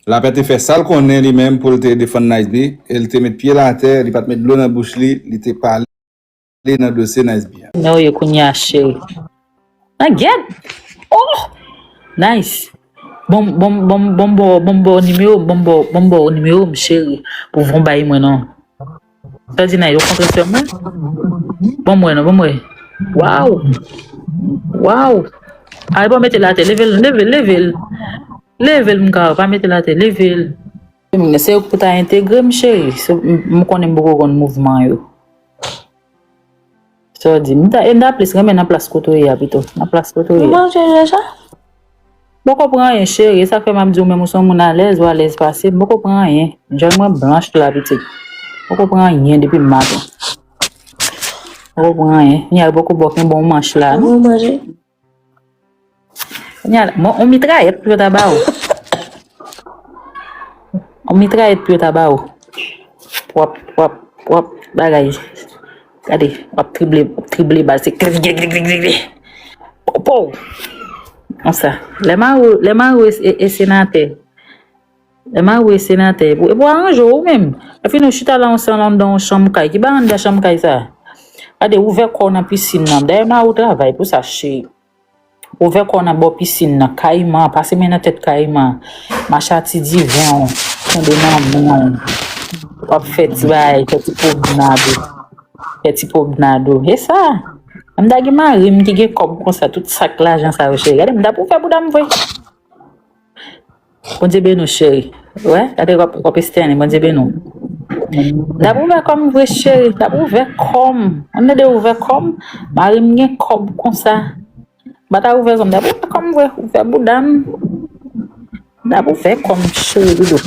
Lapè te fè sa l konnen li menm pou l te defann Niceby e l te met pye l atè, li pa t met dlo nan bouch li, li te pale nan dosye Niceby a. Nan ou ye kounye a cheri? Nan gèt! Oh! Nice! Bon m bon m bon m bon m ba w bon m ba w nimewo m bon m ba w bon m ba w nimewo m cheri pou w vin bay mwen non. Sa di Nayou kontre sèm mwen? Bon mwen non, bon mwen. Waw! Waw! Ay bon mete late, leve l, leve l, leve l. Leve l mga, pa mete late, leve l. Se yo pou ta entegre m cheri, m konnen m poko konn mouvman yo. Sa w di? M ta e m ta plis renmen nan plas kote w ye a pito. Nan plas kote w ye. Ou manje deja? M poko pran anyen cheri, e sa k fè m ap di w menm ou se yon moun alèz, ou alèz pase m. M poko pran anyen. Djòl mwen blanch tou la pitit. M poko pran anyen depi m maten. M poko pran anyen. Ni al poko bo kenbe yon manch la non. Ou manje? Kounya la, bon, on mitrayèt pou yo ta ba ou. On mitrayèt pou yo ta ba ou. Wap, wap, wap, bagay. Gade, wap trible, wap trible bal, se klik, klik, klik, klik, klik. Pou, pou. Konsa. Lè Maro, lè Maro e, e senatè. Ema ou e senatè epou epou aranje w ou menm epi nou chita la ansanm anndan yon chanm kay ki bay anndan chanm kay sa gade ouvè kò w nan pisin nan dèyè mari w travay pou sa cheri ouvè kò w nan bò pisin nan kayiman pase men nan tèt kayiman macha ti diven w kenbe nan men w wap fè ti bagay fè ti pwomenad ou fè ti pwomenad ou e sa m ta gen mari m ki gen kòb konsa tout sak lajan sa yo cheri gade m ta pou fè bouda m vre. Bondye beni w cheri. Wè gade wap estène Bondye beni w. Nap ouvè kòm vre cheri nap ouvè kòm an nou de ouvè kòm marim gen kòb konsa bata ouvè kòm nap ouvè kòm vre ouvè bouda m nap ouvè kòm cheri dodo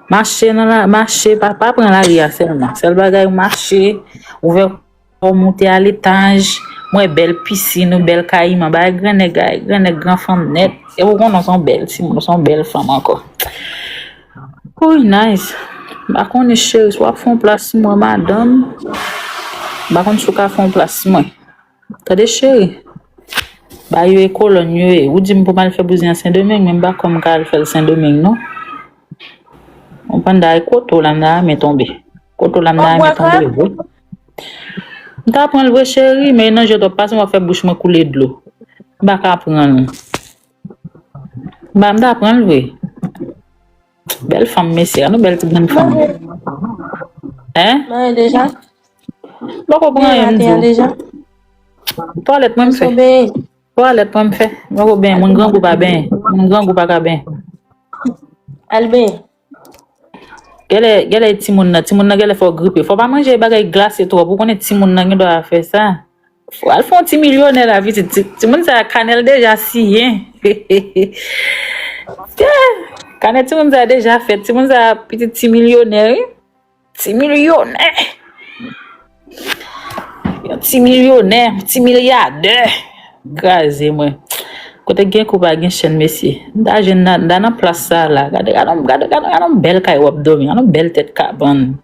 mache nan mache pa pran lari a sèlman sèl bagay mache ouvè Ou moute a letaj, m wè bèl pisin ou, bèl kayiman, bagay gran nèg a, gran nèg, gran fanm nèt. Epi ou konnen w se yon bèl timoun, w se yon bèl fanm ankò. Wouyy Nice, m pa konnen cheri si w ap fè yon pla sou mwen madanm, m pa konnen si w ka fè yon pla sou mwen. Tande cheri, bagay yo e kolòn yo ye, ou di m pou m al fè bouzen an Sendomeng men m pa kwè m ka al fè l Sendomeng non. Ou konprann bagay kote w la m nan ame tonbe. Kote w la m nan ame tonbe vre. M ta pranl vre cheri men nan je trop pasem wap fè bouch mwen koule dlo m paka pranl m ta pranl vre bèl fanm mesye gad yon bèl ti grenn fanm m poko pran anyen m diw twalèt mwen m fè twalèt mwen m fè m poko benyen moun grangou pa benyen moun grangou paka benyen al benyen. Gèlè gèlè timoun nan timoun nan gèlè fè w gripe fò w pa manje bagay glase twòp ou konnen timoun nan gendwa a fè sa fò al fè yon ti milyonè la vizit ti timoun sa kanè l deja siyen kanè timoun sa deja fèt timoun sa pitit ti milyonè wi. Ti milyonè, yon ti milyonè, yon ti milyadè graze mwen. Kote gen kou pa gen chèn mesye. M ta jwenn nan, m ta nan plas sa la. Gade, gade yon, gade, gade yon bèl kay wap dòmi, yon bèl tèt kabann.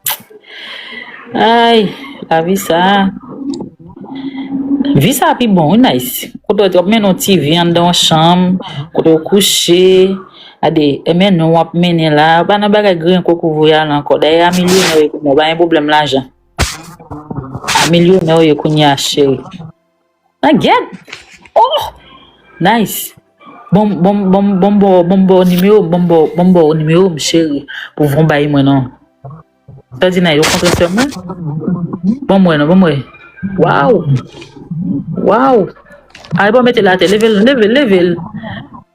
Ay, lavi sa. Vi sa pi bon wi Naïs. Kote wap mennen yon ti vi anndan yon chanm, kote ou kouche. Gade, men nou wap mennen la, pa nan bagay griyen koko voyal ankò. Dayè a milyonè w ye kounya, w pa gen pwoblèm lajan. A milyonè w ye kounya cheri. Nan gyèt! Oh! Nice! Bon m, bon m, bon m, bon m ba w, bon m ba w nimewo m, bon m ba w, bon m ba w nimewo m cheri, pou w vin bay mwen non. Sa di nay ou kontre sèm mwen? Bon mwen non, bon mwen. Waw! Waw! Ay bon mete late, leve l, leve l, leve l.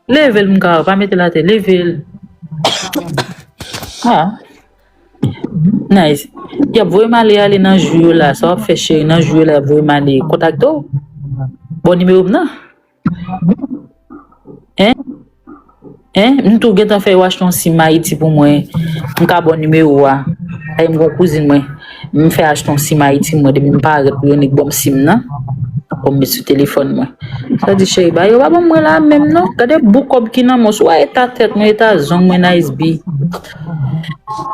Leve l mga, pa mete late, leve l. Ha! Nice. Yap voye male ale nan jou yo la, sa wap fè cheri nan jou yo la yap voye male. Kontak do? Bon nimewo m nan? Hein Hein m tou gentan fè yo achte yon sim ayiti pou mwen m ka baw nimero a paske m gen yon kouzin mwen m fè achte yon sim ayiti mwen depi m parèt pou yon nèg banm sim nan pou m met sou telefòn mwen sa di cheri ba yo pa banm mwen la a menm non gade bout kòb ki nan men w sou wè eta tèt mwen eta zong mwen nice bi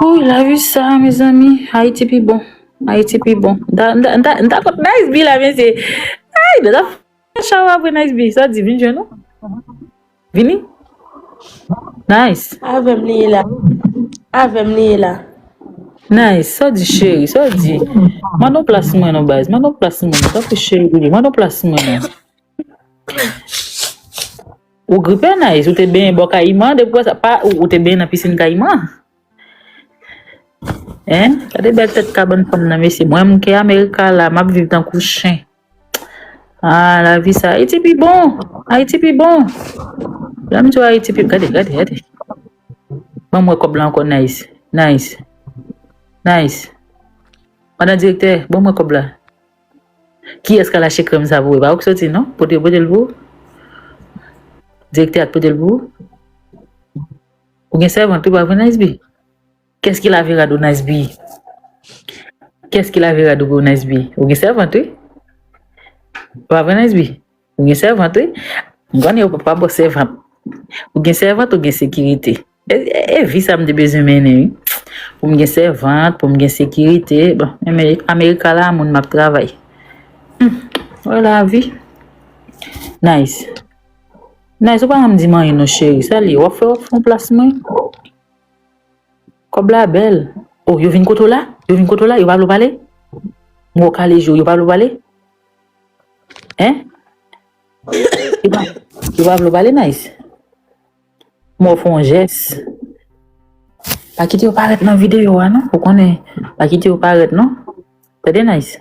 ooh lavi sa mezanmi ayiti pi bon ayiti pi bon m ta m ta m ta konn nice bi la mesye ayy m ta Mwen chaw apre nice bgy sa di vin jwenn ou vini nice. Avèm li ye la avèm li ye la. Nice sa w di cheri sa w di mande yon plas mwen non baz mande yon plas mwen non tanpri cheri mande yon plas mwen non. Ou gripe nice ou te benyen bò kayiman depi wè sa pa ou te benyen nan piscine kayiman hein gade bèl tèt kabann fanm nan mesye mwen mnke america la map viv tankou chen. Ah la vie sa Haïti pi bon. Haïti pi bon. Lèm di Haïti pi gade gade gade. Mwen mwen kob la anko nice. Nice. Nice. Madan direktè, bon mwen kob la. Ki eska la che krem sa pou e ba ok soti non? Pote pote l pou. Direktè ak pote l pou. Ou gen servant tou pa vre nice bi. Qu'est-ce qu'il a Vera do nice bi Qu'est-ce qu'il a Vera do nice bi Ou gen servant wi Pa vre nice bi Ou gen servant wi Gwan yo pa bo servant Ou gen servant ou gen sekirite E, e, e vi sa m te bezwen mennen wi Pou m gen servant pou m gen sekirite Bon, men America la moun map travay Hum, wè la vi Nice Nice ou pa janm di m anyen non cheri Sa li, wap fè wap fon plas mwen Kòb la bèl oh yo vin kote w la yo vin kote w la yo pa vle w pale m wè w kale je w yo pa vle w pale hein yo pa vle w pale Nice m wè w fè yon jès pa kite yo parèt nan videyo a non ou konnen pa kite yo parèt non tande Nice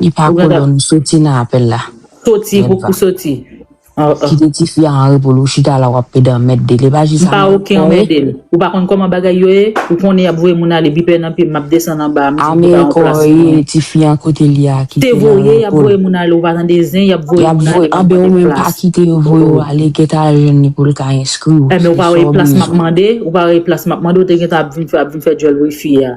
Li pa kolòn ou soti nan apèl la. Soti pou pou soti. Kite ti fi a anrepo l ou chita la wap pede anmèdel e pa jis anmède kò e. Anmède l. Ou pa konn kòman bagay yo ye, ou konnen yap voye moun ale bipè nan pye m map desann anba m dim poupa yon plas pou mwen. Anmède kò e tifi an kote li a kite l anrepo l. Te voye yap voye moun ale ou pa tande zen yap voye moun ale map mande plas. Yap voye anbe ou menm pa kite yo voye ou ale geta jwenn li pou l ka enskri ou. Enben ou pa wè e plas map mande, ou pa wè e plas map mande ou te gentan ap vin fè ap vin fè djòl wifi a.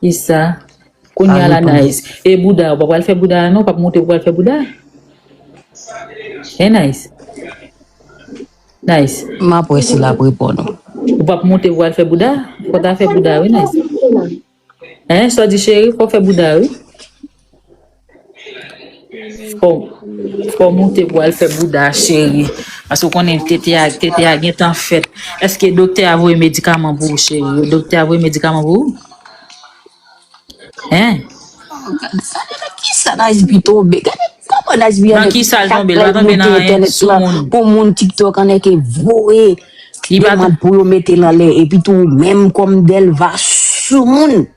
Kisa Konya la Nice e bouda ou pa pral fè bouda a non ou pap moute pou pral fè bouda hein Nice Nice Map wè si lap reponn ou. Ou pap moute pou pral fè bouda fò ta fè bouda wi Nice hein sa w di cheri fò fè bouda wi. Koman ou te pwal fè bouda a cheri paske ou konnen tete a tete a gentan fèt eske doktè a voye medikaman pou ou cheri doktè a voye medikaman pou ou hein Kisa Najbi tonbe gade koman Najbi Nan anèk kisa l tonbe l pa kap tonbe nan monte anyen entènèt sou la moun pou moun tiktok anèk e voye Li pa demand pou yo mete l anlè epitou ou menm kòm Delva sou moun.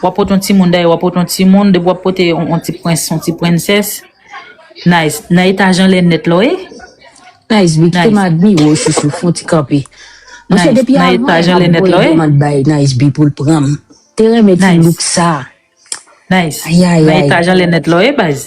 Wap pot yon timoun dayè wap pot yon timoun depi wap pote yon ti prens yon ti princess Nice nan eta jan lè nèt la wi. Nice big fem admirew chouchou fon ti kanpe monchè depi avan ap voye demand bay Nice big poul pranm te renmen ti look sa Nice nan eta jan lè nèt la wi baz.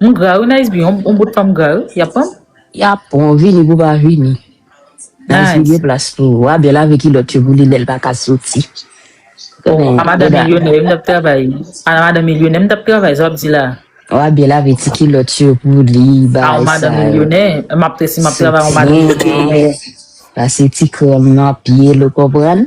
M gra wi Nice B yon bout fanm gra wi yap pranm. Yap pranw vini pou pa vini. Nice B gen plas pou ou. Wa byen lave kilòt yo pou li lèl paka soti. Bon a madan milyonè yo m tap travay a madan milyonè m tap travay sa wap di la. Wa byen lave ti kilòt yo pou li bagay sa yo. A w madan milyonè map resi map travay a w madan milyonè. Pase ti krèm nan pyel ou konprann.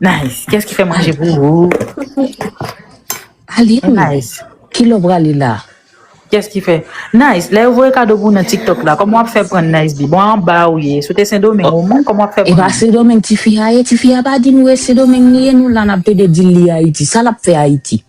Nice kès ki fè manje pou ou. Aline Nice ki lè w prale la. Kès ki fè Nice lè yo voye kado pou w nan tiktok la kòman w ap fè pran Nice di bon anba ou ye si w te sendomeng ou menm kòman w ap fè pran. Epa sendomeng tifi a ye tifi a pa di nou e sendomeng li ye nou la n ap pede di l li ayiti sa l ap fè ayiti.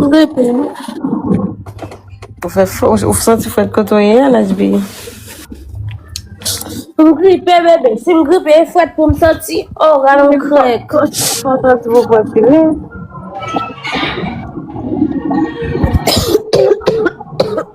Ou gen pil. Ou fè fò, ou santi fèt kote ou ye a Najbi? M gripe bebe, si m gripe e fwèt pou m santi, oh rale m krèk. Fò santi pou fwèt li ye.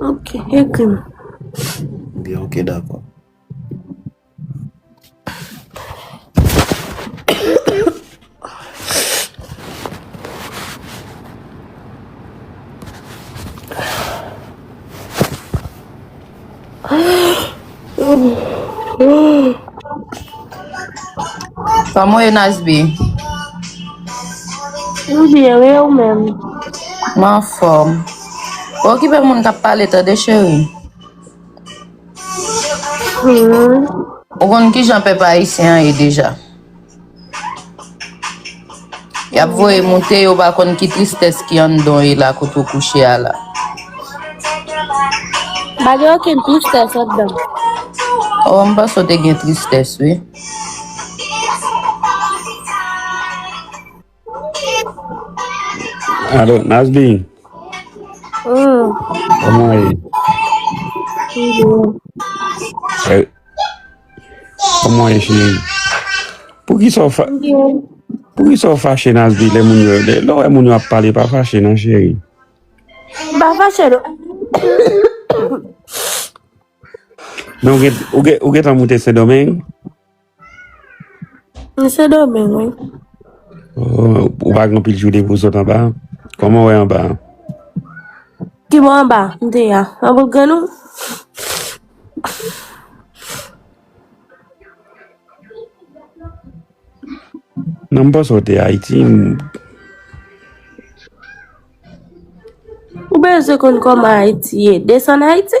Ok, ekri m. Byen, ok, dakò. Koman ye Nasby? M byen wi e ou menm? M anfòm. Pa okipe moun k ap pale tande cheri. Ou konn kijan pèp ayisyen an ye deja? Yap voye moute yo pa konn ki tristes ki andan e la kote ou kouche a la. Pa gen okenn tristès andan. Oh, m panse ou te gen tristes wi. Alo, Nazli. Hmm. Koman e? Koman e? Koman e chini? Pou ki sa w fa... Pou ki sa w fache Nazli le moun yo? Le lò e moun yo ap pale pa fache nan cheri? Ba fache lò. Non, ou gen tan moute Sendomeng? Mwen se domeng wi. Ou pa gen pil joude pou sot anba? Koman wè anba? Ki bo anba? Mte ya. An bout grenn ou? Nan m panse ou te Ayiti. Ou bezwen konn koman Ayiti ye? Desann Ayiti?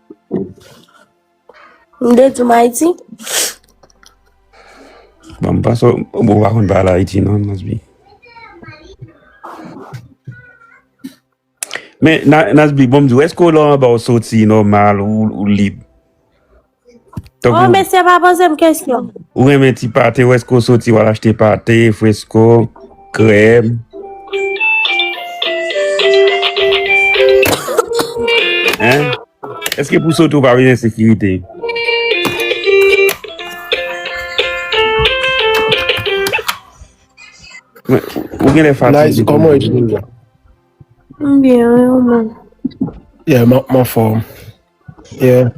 M de di m Ayiti. Bon, m panse ou bon pa konn pa la Ayiti non, Nasby. Men, Nasby, bon m di, eske ou lò an ba ou soti nòmal ou lib? Oh, mesye pa poze m kesyon. Ou renmen ti pate, eske ou soti wal achte pate, fresko? Krèm. Hein? Eske pou sote ou pa vin ensekirite? Ou gen lè fatige. Nice, koman e jwenn la? M byen wi ou menm. Yeah m anfòm. Yeah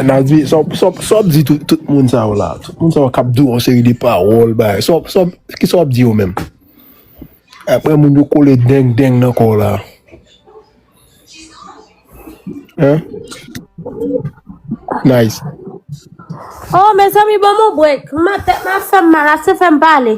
Nadie sa wap di tout moun sa yo la, tout moun sa yo kap di w yon seri de pawòl bagay sa kisa wap di yo menm? Aprè moun yo kole deng deng nan kò w la Nice. Oh mezanmi banm yon break, tèt map fèm mal ase fèm pale.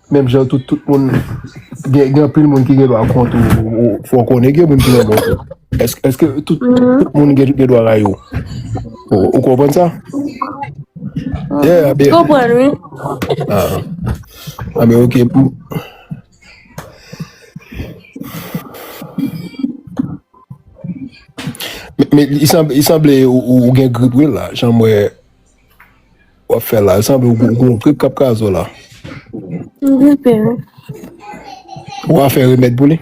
Menm jan tout tout moun gen gen anpil moun ki gen dwa kont ou fò konnen gen moun ki nan bò eske tout moun gen gen dwa rayi ou ou konprann sa yeah konprann wi ah ben ok pou men li sanble ou gen grip wi la jan mwen Wap fè la, e sanble ou gon grip kap kraze w la. M gripe wi. Ou a fè remèd pou li?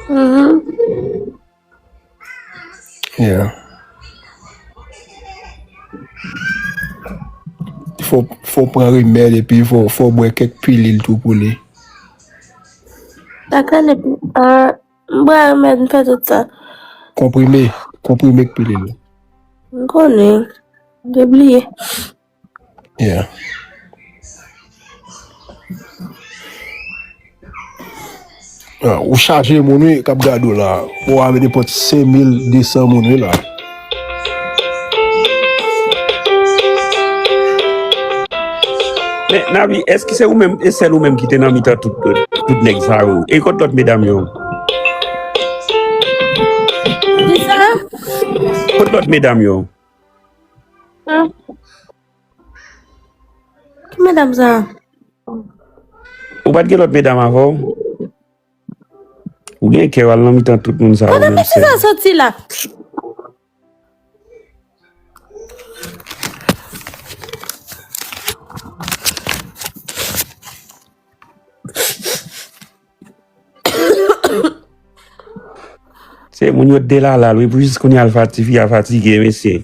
Mhm. Yeah. Fò fò pran remèd epi fò fò bwè kèk pilil tou pou li. Dakò le ah M bwè remèd m fè tout sa. Konprime, konprime k pilil. M konnen, m te bliye. Yeah. Ah, ou chaje moun wi kap gade w la. Ou ave de pot 5200 moun wi la. Men Navi, èske se ou menm, e sèl ou menm ki te nan mitan tout nèg sa yo? E kot lòt medam yo? Ki sa? Kot lòt medam yo? An? Ki medam sa? Ou pa t gen lòt medam avè w? Ou gen kè al nan mitan tout moun sa yo menm sèm. Kote mesye sa soti la. Se moun yo t delalal wi pou jis kounye a l fati tifi a fatige mesye.